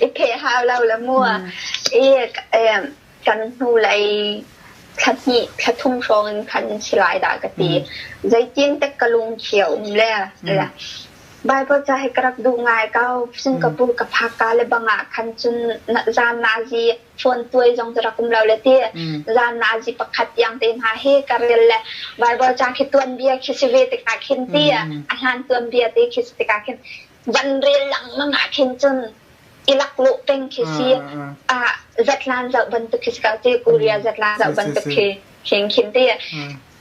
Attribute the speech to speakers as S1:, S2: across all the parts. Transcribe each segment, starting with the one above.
S1: I kheh hau lo la mu. I kan hnu lei thla hnih, thla thum hrawng in khan si lai dah ka ti. Zeitin tek ka lungkhio um le. Bible ca hi ka rak duh ngai ko. Singapore ka phak ka le bangah khan cun zan nazi phone tuai zong cu rak um lo le ti. Zan nazi pakhat yang te hna hi ka rel le Bible ca khi tuanbia khi si ve tikah khin ti. A hlan tuanbia te khi si tikah khin Van rel lengmang ah khin cun Ilaklawh peng khi si ah Zatlan zoh bantuk khi si ko ti Korea Zatlan zoh bantuk khi hring khin ti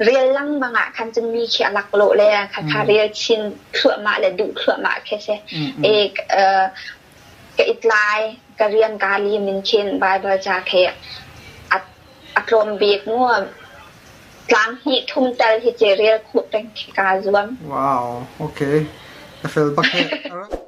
S1: rel lengmang ah khan cun mi khi a laklawh le khakha rel chin thluahmah le duh thluahmah khi si e ka itlai ka rian ka li min khin Bible ca khi A tlawm bik maw? Tlang hnih thum tal hi cu rel khuh peng khi kaa zuam. Wow, ok. A fel bak heh. A rak